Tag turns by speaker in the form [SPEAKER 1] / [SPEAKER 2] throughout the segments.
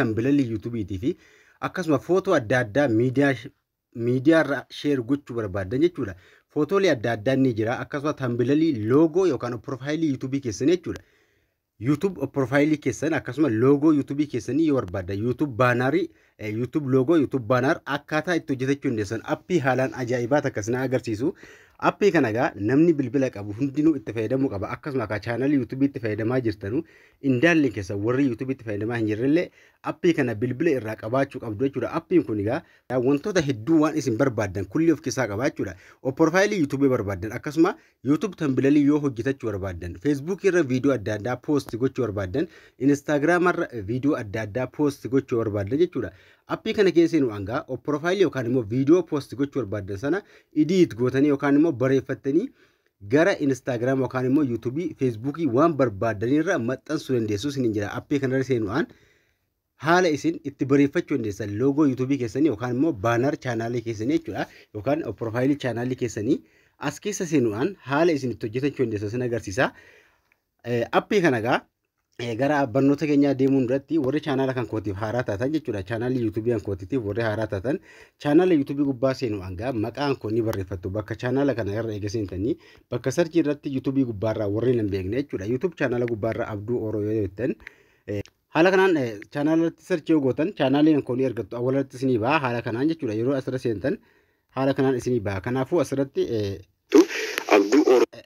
[SPEAKER 1] Tambilalii yuutubiitii fi akkasuma footoo adda addaa miidiyaa miidiyaarra sheer gochuu barbaaddan jechuudha. Footoolee adda addaa ni jira akkasuma tambilalii loogoo yookaan piroofaayilii yuutubii keessan jechuudha. YouTube piroofaayilii keessan akkasuma loogoo yuutubii keessanii yoo barbaaddan YouTube baanaarii YouTube loogoo YouTube baanaar akkaataa itti hojjetachuu dandeessan appii haalaan ajaa'ibaa takka isin agarsiisu. Appii kana egaa namni bilbila qabu hundinuu itti fayyadamuu qaba akkasuma akka chaanalii yuutubii itti fayyadamaa jirtanu Indaalleen keessan warri yuutuubiitti fayyadamaa hin jirrellee appii kana bilbila irraa qabaachuu qabdu jechuudha. Appiin kun egaa wantoota hedduu waan isin barbaaddan kulli of keessaa qaba jechuudha. Opporfaayilii yuutuubii barbaaddan akkasuma yuutuub tambilalii yoo hojjetachuu barbaaddan feesbuukii irra viidiyoo adda addaa poosti gochuu barbaaddan inistaagiraama irra viidiyoo adda addaa poosti gochuu barbaaddan jechuudha. Appii kana keessa nu hangaa opporfaayilii yookaan immoo viidiyoo poosti gochuu barbaaddan sana idiit gootanii yookaan immoo bareeffattanii gara Instagram yookaan immoo YouTube, Facebook waan barbaadan irra maxxansuu dandeessu isiniin jira. Appii kanarra seenuudhaan haala isin itti bareeffachuu dandeessan loogoo YouTube keessanii yookaan immoo baanaar chaanaalii keessanii jechuudha yookaan piroofaayilii chaanaalii keessanii as keessa seenuudhaan haala isin itti hojjetachuu dandeessan isin agarsiisa. Appii kana egaa gara barnoota keenyaa deemuun duratti warri chaanaala kan kootiif haaraa taatan jechuudha. Chaanaalli yuutuubii kan kootiitiif warri haaraa taatan chaanaala yuutuubii gubbaa seenu hangaa maqaan koo ni barreeffattu bakka chaanaala kana irra eega seentanii bakka sarchii irratti yuutuubii gubbaarraa warri hin beekne jechuudha. Yuutuub chaanaala gubbaarraa abduu oroo yoo jettan haala kanaan chaanaala irratti sarchii yoo gootan chaanaalli kan koo ni argattu awwala irratti isinii ba'a haala kanaan jechuudha. Yeroo asirra seentan haala kanaan isinii ba'a. Kanaafuu asirratti abduu oroo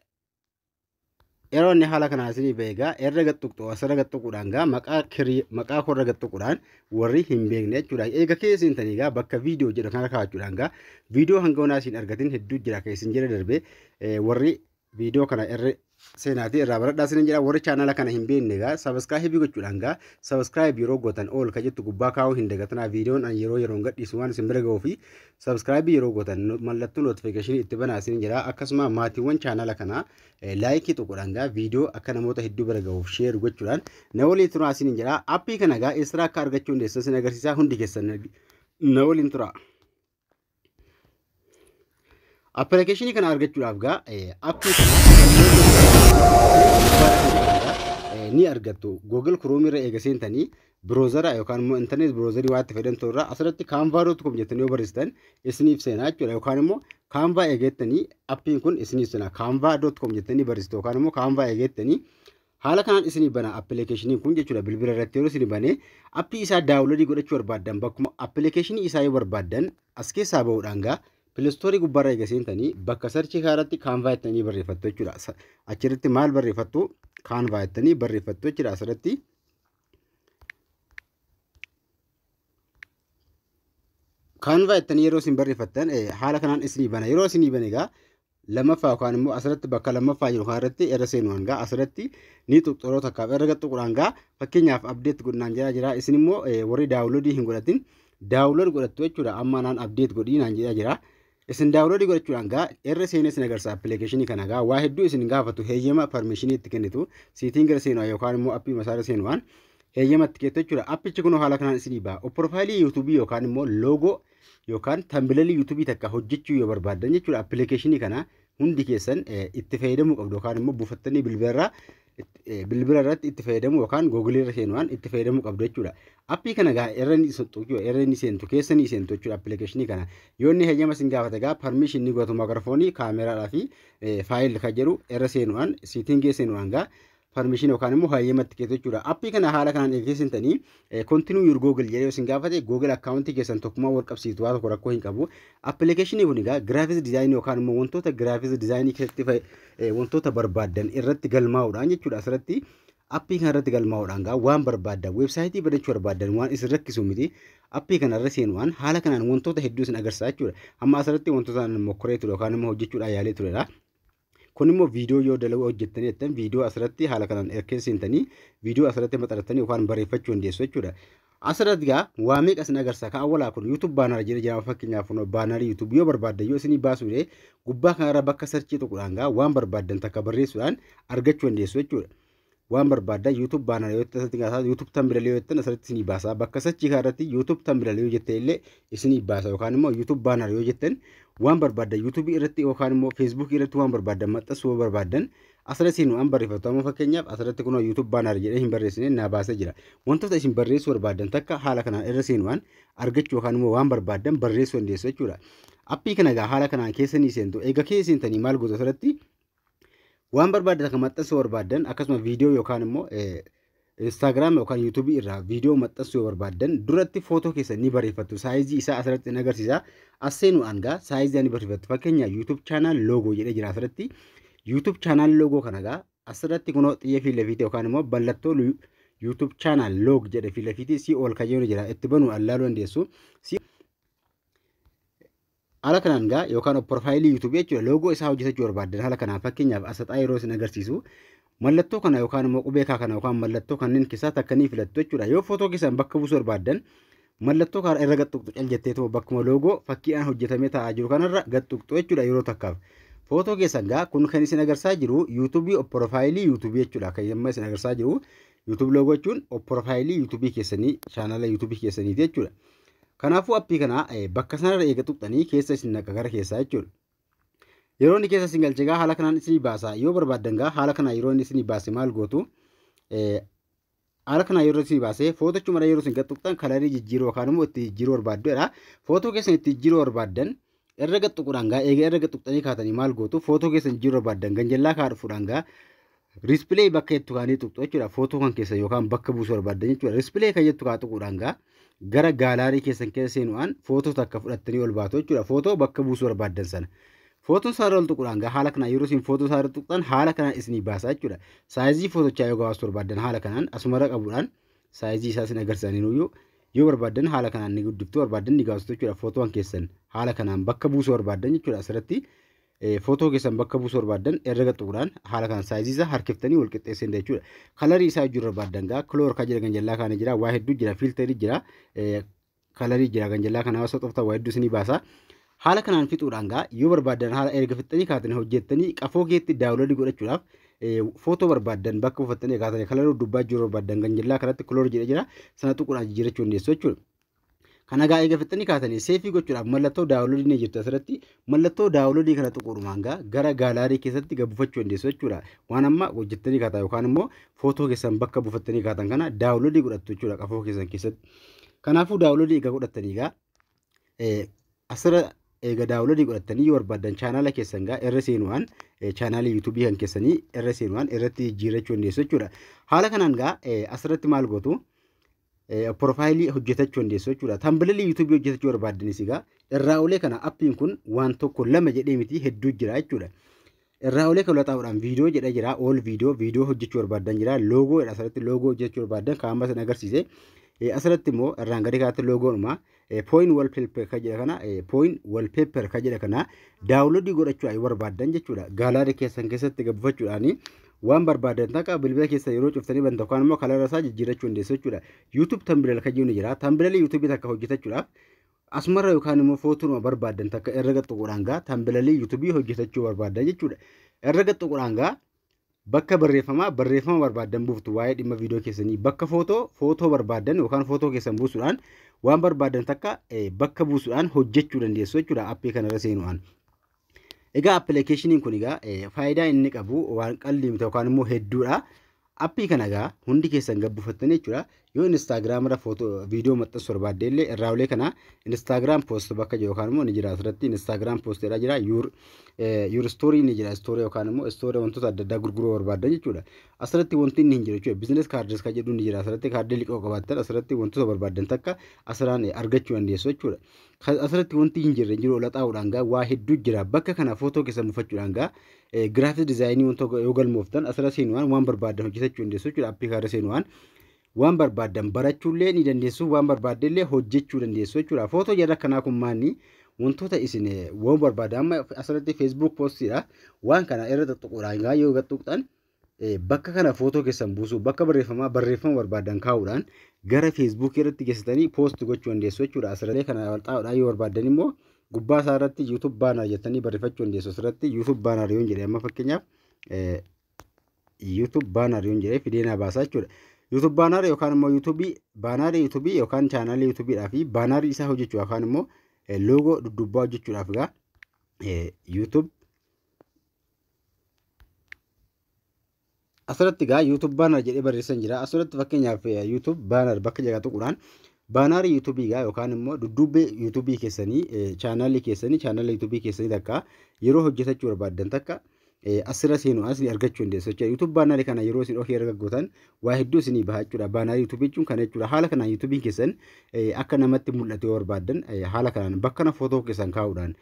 [SPEAKER 1] Yeroonni haala kanaa isinii beekaa erra gattuqxu asirra gattuquudhaan gaa maqaa kirii maqaa korra gattuquudhaan warri hin beekne jechuudha. Eega keessa hin tanii gaa bakka viidiyoo jedhu kana kaa'achuudhaan gaa viidiyoo hanga onaa isin argatin hedduu jira keessin jedhe darbee warri viidiyoo kana irra seenaatii irraa baradhaa isin jedha warri chaanala kana hin beekne gaa sabaskaayibii gochuudhaan gaa sabaskaayibii yeroo gootan ool ka jettu gubbaa kaa'uu hin dagatinaa viidiyoon an yeroo yeroon gadhiisu waan isin bira ga'uu fi Subscribe yeroo gootan no- mallattoo notification itti banaa isin jira akkasuma maatiiwwan chaanala kanaa eh, laayikii tokkodhaan gaa viidiyoo akka namoota hedduu bira gahuuf sheer gochuudhaan na waliin turaa isin jira appii kana gaa eessara akka argachuu dandeessan isin agarsiisaa hundi keessan na waliin turaa. Appilikeeshinii kana argachuudhaaf gaa eh, appii kana eh, ni argattu. Google Chrome irra eega seentanii Browser yookaan immoo internet browser waan itti fayyadamtu irraa asirratti canva.com jettanii yoo barreessitan isiniif seenaa jechuudha yookaan immoo canva eegeettanii appiin kun isiniif seenaa canva.com jettanii barreessitu yookaan immoo canva eegeettanii haala kanaan isinii bana appilikeeshiniin kun jechuudha bilbila irratti yeroo isinii banee appii isaa daawunloodii godhachuu barbaaddan bakkuma appilikeeshinii isaa yoo barbaaddan as keessaa bahuudhaan gaa pilistoorii gubbaarra eega seentanii bakka sarchii kaaratti kaanvaa jettanii barreeffattu jechuudha achirratti maal barreeffattu kaanvaa jettanii barreeffattu jechuudha asirratti Kaanvaa jettanii yeroo isin barreeffattan haala kanaan isinii bana. Yeroo isinii bane egaa lammaffaa yookaan immoo asirratti bakka lammaffaa jiru kanarratti irra seenu hangaa asirratti ni tuqxuroo takkaaf irra gaxxuqur hangaa fakkeenyaaf abdeet godhinaan jira jira isin immoo warri daawuloodii hin godhatin daawulood godhattu jechuudha amma naan abdeet godhinaan jira jira Isin daawunloodii godhachuudhaan gaa irra seenee isin agarsiisa appilikeeshinii kana gaa waa hedduu isin gaafatu heeyyama parmeeshinii itti kennitu siitiin gara seenuudhaan yookaan immoo appii masaara seenuudhaan heeyyama itti keettu jechuudha. Appichi kun haala kanaan isinii ba'a. Piroofaayilii yuutuubii yookaan immoo loogoo yookaan tambilalii yuutuubii takka hojjechuu yoo barbaaddan jechuudha appilikeeshinii kana hundi keessan itti fayyadamuu qabdu yookaan immoo buufattanii bilbilarraa bilbila irratti itti fayyadamu yookaan googilii irra seenuudhaan itti fayyadamuu qabdu jechuudha. Appii kana gaa irra ni seentu irra ni seentu keessa ni seentu jechuudha appilikeeshinii kana. Yoo inni heyyama isin gaafate gaa parmiishin ni gootu maayikiroofoonii kaameeraadhaa fi faayil kan jedhu irra seenuudhaan siitingii seenuudhaan gaa permission yookaan immoo hayyama itti keetu jechuudha. Appii kana haala kanaan eegsisin tanii continue your Google jedhee isin gaafate Google account keessan tokkummaa wal qabsiistu waa tokko rakkoo hin qabu. Application kun egaa graphics design yookaan immoo wantoota graphics design keessatti wantoota barbaadan irratti galmaa'uudhaan jechuudha asirratti appii kana irratti galmaa'uudhaan gaa waan barbaadan weebsaayitii badachuu barbaadan waan isin rakkisu miti appii kana irra seenuudhaan haala kanaan wantoota hedduu isin agarsiisa jechuudha. Amma asirratti wantoota mokkoree ture yookaan immoo hojjechuudhaan yaalee turedha. Kun immoo viidiyoo yoo dalaguu hojjettanii jettan viidiyoo asirratti haala kanaan erkee seentanii viidiyoo asirratti maxxanattanii yookaan barreeffachuu dandeessu jechuudha. Asirratti gaa waa meeqa isin agarsiisa ka awwalaa kun YouTube baanaara jedhee jira fakkeenyaaf kun baanaarii YouTube yoo barbaaddan yoo isinii baasuu dide gubbaa kanarra bakka sarchii tuqudhaan gaa waan barbaaddan takka barreessuudhaan argachuu dandeessu jechuudha. waan barbaaddan YouTube baana yoo ta'e asirratti gaasaa YouTube thumbnail yoo jettan asirratti isinii baasa bakka sachii kana irratti YouTube thumbnail yoo jette illee isinii baasa yookaan immoo YouTube baana yoo jettan waan barbaaddan YouTube irratti yookaan immoo Facebook irratti waan barbaaddan maxxansuu yoo barbaaddan asirratti isin waan barreeffatu amma fakkeenyaaf asirratti kunoo YouTube baana jedhee hin barreessine naa baasee jira wantoota isin barreessuu barbaaddan takka haala kanaan irra seen waan argachuu yookaan immoo waan barbaaddan barreessuu dandeessu jechuudha appii kana egaa haala kanaan keessanii seentu egaa keessanii maal gootu asirratti waan barbaaddan akka maxxansuu barbaaddan akkasuma viidiyoo yookaan immoo Instagram yookaan YouTube irraa viidiyoo maxxansuu yoo barbaaddan duratti footoo keessan ni barreeffattu saayizii isaa asirratti ni agarsiisa asseenuu aangaa saayizii ni barreeffattu fakkeenya YouTube channel logo jedhee jira asirratti YouTube channel logo kana gaa asirratti kunoo xiyya fi lafiite yookaan immoo ballattoo YouTube channel log jedhe fi lafiite si ol kayyoo ni jira itti banuu allaaluu dandeessu Haala kanaan egaa yookaan opporfaayilii YouTube jechuudha loogoo isaa hojjetachuu barbaaddan haala kanaan fakkeenyaaf asaxaa yeroo isin agarsiisu mallattoo kana yookaan immoo qubee kaa kana yookaan mallattoo kanneen keessaa takka ni filattu jechuudha. Yoo footoo keessan bakka buusuu barbaaddan mallattoo kana irra gaxxuqxu cal jetteetuma bakkuma loogoo fakkiidhaan hojjetamee taa'aa jiru kanarra gaxxuqxu jechuudha yeroo takkaaf. Footoo keessan gaa kun kan isin agarsiisaa jiru yuutuubii opporfaayilii yuutuubii jechuudha kan amma isin agarsiisaa jiru yuutuubii loogoo jechuun opporfaayilii yuutuubii keessanii chaanala yuutuubii keessaniiti jechuudha. Kanaafuu appii kana bakka sanarra eega tuqxanii keessa isin naqa gara keessaa jechuudha. Yeroo inni keessa isin galche egaa haala kanaan isinii baasa. Yoo barbaaddan egaa haala kanaa yeroo inni isinii baase maal gootu? Haala kanaa yeroo isinii baase footochumadha yeroo isin gad tuqxan kalarii jijjiiruu yookaan immoo itti jijjiiruu barbaaddu jedha. Footoo keessan itti jijjiiruu barbaaddan Erga tuquudhaan gaa eega erga tuqxanii kaatanii maal gootu footoo keessan jijjiiruu barbaaddan ganjallaa kaa dhufuudhaan gaa riispilee bakka jettu kaanii tuqxu jechuudha footoo kan keessan yookaan bakka buusuu barbaaddan jechuudha riispilee kan jettu kaa tuquudhaan gaa gara gaalaarii keessan keessa seenuudhaan footoo takka fudhattanii ol baatu jechuudha footoo bakka buusuu barbaaddan sana. Footoon isaarra ol tuquudhaan gaa haala kanaan yeroo isin footoo isaarra tuqxan haala kanaan isinii baasa jechuudha. Saayizii footochaa yoo gabaasuu barbaaddan haala kanaan asumarra qabuudhaan saayizii isaa sin agarsiisanii nuyyuu yoo barbaaddan haala kanaan ni guddiftu barbaaddan ni gaafatu jechuudha footoon keessan haala kanaan bakka buusuu barbaaddan jechuudha asirratti footoo keessan bakka buusuu barbaaddan irra gaxuudhaan haala kanaan saayizii isaa harkiftanii wal qixxeessin jechuudha kalarii isaa hojii barbaaddan gaa kiloor kan jedhan jallaa kaanii jira waa hedduu jira fiilterii jira kalarii jira kan jallaa kanaa osoo xoftan waa hedduu isinii baasa. Haala kanaan fixuudhaan gaa yoo barbaaddan haala erga fixxanii kaatanii hojjettanii qafoo keetti daawuloodii godhachuudhaaf footoo barbaaddan bakka buufattanii kaatanii kalaruu dubbaa jiru barbaaddan kan jallaa kanatti kiloor jedha jira sana tuquudhaan jijjiirrachuu dandeessu jechuudha. Kana gaa eega fixxanii kaatanii seefii gochuudhaaf mallattoo daawuloodii ni jirti asirratti Mallattoo daawunloodii kana tuquudhumaan gaa gara gaalaarii keessatti gad buufachuu dandeessu jechuudha. Waan amma hojjettanii kaataa yookaan immoo footoo keessan bakka buufattanii kaatan kana daawunloodii godhattu jechuudha qafoo keessan keessatti. Kanaafuu daawunloodii egaa godhattanii gaa asirra eega daawunloodii godhattanii yoo barbaadan chaanaala keessan gaa irra seenuudhaan chaanaalii yuutuubii kan keessanii irra seenuudhaan irratti jijjiirrachuu dandeessu jechuudha. Haala kanaan gaa asirratti maal gootu Porofaayilii hojjetachuu dandeessu jechuudha. Tambililii yuutuubii hojjetachuu barbaaddanis egaa irraa olee kana appiin kun waan tokko lama jedhee miti hedduu jira jechuudha. Irraa olee kan laxaa'uudhaan viidiyoo jedha jira. Ool viidiyoo viidiyoo hojjechuu barbaaddan jira. Loogoo jedha asirratti loogoo hojjechuu barbaaddan kan amma isin agarsiise. Asirratti immoo irraan gadee kanatti loogoonuma Pooyin wallpaper ka jedha kana pooyin wallpaper ka jedha kana daawunloodii godhachuu yoo barbaaddan jechuudha gaalaada keessan keessatti gabbafachuudhaanii waan barbaadan takka bilbila keessa yeroo cuftanii banta yookaan immoo kalara isaa jijjiirachuu dandeessu jechuudha YouTube tambilal kan jiru jira tambilali YouTube takka hojjetachuudhaaf asumarra yookaan immoo footuuma barbaadan takka erga tuquudhaan gaa tambilalii YouTube hojjetachuu barbaadan jechuudha erga tuquudhaan gaa Bakka barreeffamaa barreeffama barbaaddan buuftu waa'ee dhimma viidiyoo keessanii. Bakka footoo footoo barbaaddan yookaan footoo keessan buusuudhaan waan barbaaddan takka bakka buusuudhaan hojjechuu dandeessu jechuudha appii kanarra seenuudhaan. Egaa appilikeeshiniin kun egaa faayidaa inni qabu waan qalliimta yookaan immoo hedduudha. Appii kana egaa hundi keessan gabbufattan jechuudha. Yoo Instagram irra footoo viidiyoo maxxansu barbaadde illee irraa olee kana Instagram post bakka jiru yookaan immoo ni jira asirratti Instagram post jedhaa jira your eh, your story ni jira story yookaan immoo story wantoota adda addaa gurguruu barbaaddan jechuudha. Asirratti wanti inni hin jiru jechuudha business cards kan jedhu ni jira asirratti kaardii liqoo qabaattan asirratti wantoota barbaaddan takka asirraan eh, argachuu dandeessu jechuudha. Kan asirratti wanti hin jirre hin jiru olaxaa'uudhaan gaa waa hedduu jira bakka kana footoo keessa mufachuudhaan gaa Giraafis dizaayinii wanta yoo galmooftan asirra seenuudhaan waan barbaaddan hojjetachuu dandeessu jechuudha. Appii kanarra seenuudhaan waan barbaaddan barachuullee ni dandeessu, waan barbaaddan illee hojjechuu dandeessu jechuudha. Footoo jarra kanaa kun maanni wantoota isin waan barbaaddan amma asirratti Facebook postiidha. Waan kana irra tuttuquudhaan yoo gad tuqxan Bakka kana footoo keessan buusuu, bakka barreeffamaa barreeffama barbaadan kaa'uudhaan gara feesbuukii irratti geessitanii poost gochuu dandeessu jechuudha. Asirratti kana walxaa'uudhaan yoo barbaadan immoo gubbaa isaa irratti YouTube banner jettanii barreeffachuu dandeessu. Asirratti YouTube banner yoon jedhe amma fakkeenyaaf YouTube banner yoon jedhe fidee naa baasa jechuudha. YouTube banner yookaan immoo YouTube banner YouTube yookaan channel YouTube dhaa fi banner isaa hojjechuu yookaan immoo logo duddubbaa hojjechuudhaaf egaa YouTube asirratti egaa YouTube banner jedhee barreessan jira. Asirratti fakkeenyaaf eh, YouTube banner bakka jedha tuquudhaan baanaar YouTube egaa yookaan immoo dudduubbee YouTube keessanii eh, chaanaalii keessanii chaanaala YouTube keessanii takka yeroo hojjetachuu barbaaddan takka eh, asirra seenu asii argachuu dandeessu jechuudha. YouTube banner kana yeroo isin ofii erga gootan waa hedduu isinii baha jechuudha. Baanaa YouTube jechuun kana jechuudha. Haala kanaan YouTube keessan akka namatti mul'atu yoo barbaaddan haala kanaan bakka kana footoo keessan kaa'uudhaan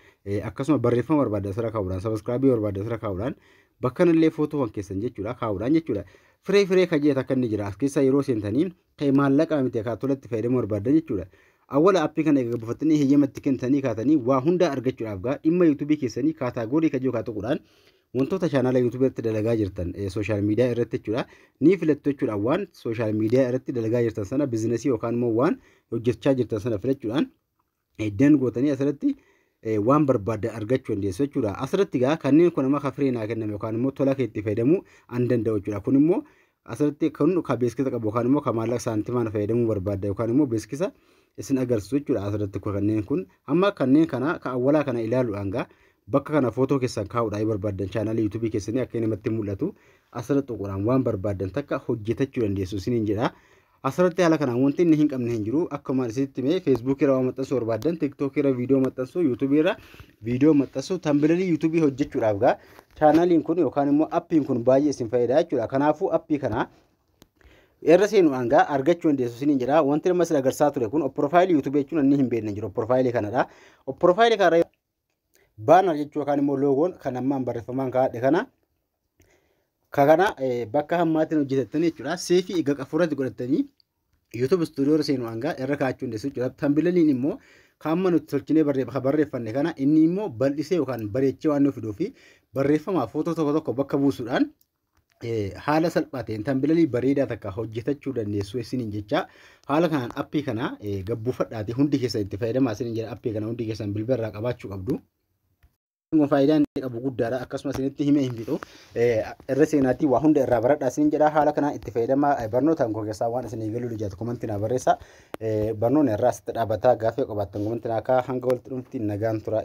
[SPEAKER 1] akkasuma barreeffama barbaaddan asirra kaa'uudhaan sabiskiraabii barbaaddan asirra kaa'uudhaan bakka kanallee footoowwan keessan jechuudha kaa'uudhaan jechuudha. Firee firee kan jedhu akka inni jira as keessaa yeroo seentanii kan maallaqa miti akka tolatti fayyadamuu barbaaddan jechuudha. Awwala appii kana egaa buufattanii heeyyamatti kennitanii kaatanii waa hundaa argachuudhaaf gaa dhimma YouTube keessanii kaataagoorii kan jiru kaa tuquudhaan wantoota chaanala yuutuubii irratti dalagaa jirtan sooshaal miidiyaa irratti jechuudha ni filattu jechuudha waan sooshaal miidiyaa irratti dalagaa jirtan sana biizinasii yookaan immoo waan hojjechaa jirtan sana filachuudhaan dan gootanii asirratti waan barbaaddan argachuu dandeessu jechuudha. Asirratti egaa kanneen kun amma kafiree naa kenname yookaan immoo tola keetti fayyadamuu an danda'u jechuudha. Kun immoo Asirratti kun ka beeksisa qabu yookaan immoo ka maallaqa saantimaan fayyadamuu barbaadda yookaan immoo beeksisa isin agarsiisu jechuudha asirratti kanneen kun amma kanneen kana ka awwalaa kana ilaaluudhaan gaa bakka kana footoo keessan kaa'uudhaan yoo barbaaddan chaanaalii yuutuubii keessanii akka namatti mul'atu asirra xuquraan waan barbaaddan takka hojjetachuu dandeessu isiniin jedha Asirratti haala kanaan wanti inni hin qabne hin jiru. Akkuma isinitti himee Facebook irra waan maxxansuu barbaaddan, TikTok irra viidiyoo maxxansuu, YouTube irra viidiyoo maxxansuu, tambilalii YouTube hojjechuudhaaf gaa chaanaliin kun yookaan immoo appiin kun baay'ee isin fayyada jechuudha. Kanaafuu appii kana irra seenuudhaan gaa argachuu dandeessu isiniin jedha. Wanti nama isin agarsiisaa ture kun profaayilii YouTube jechuun inni hin beekne hin jiru. Profaayilii kanadha. Profaayilii kanarra Baanar jechuun yookaan immoo loogoon kan ammaan barreeffamaan kaa'adhe kana ka kana bakka hammaatiin hojjetattan jechuudha. Seefii egaa qafuurratti godhattanii YouTube studio irra seenu hangaa irra kaa'achuu dandeessu jechuudha. Tambilaliin immoo kan amma nuti tolchinee barreeffanne kana inni immoo bal'isee yookaan bareechee waan nuuf fiduu fi barreeffama footoo tokko tokko bakka buusuudhaan haala salphaa ta'een tambilalii bareedaa takka hojjetachuu dandeessu isiniin jecha haala kanaan appii kana gabbuufadhaati hundi keessan itti fayyadamaa isiniin jedha appii kana hundi keessan bilbila irraa qabaachuu qabdu. Faayidaan inni qabu guddaadha akkasumas isinitti himee hin fixu irra seenaatii waa hunda irraa baradhaa isiniin jedha haala kanaan itti fayyadamaa barnootaan koo keessaa waan isinii galuu lijaatu komantii naa barreessa barnoonni irraa asitti dhaabataa gaafii qabaattan komantii naa kaa hanga walitti dhumti nagaan tura.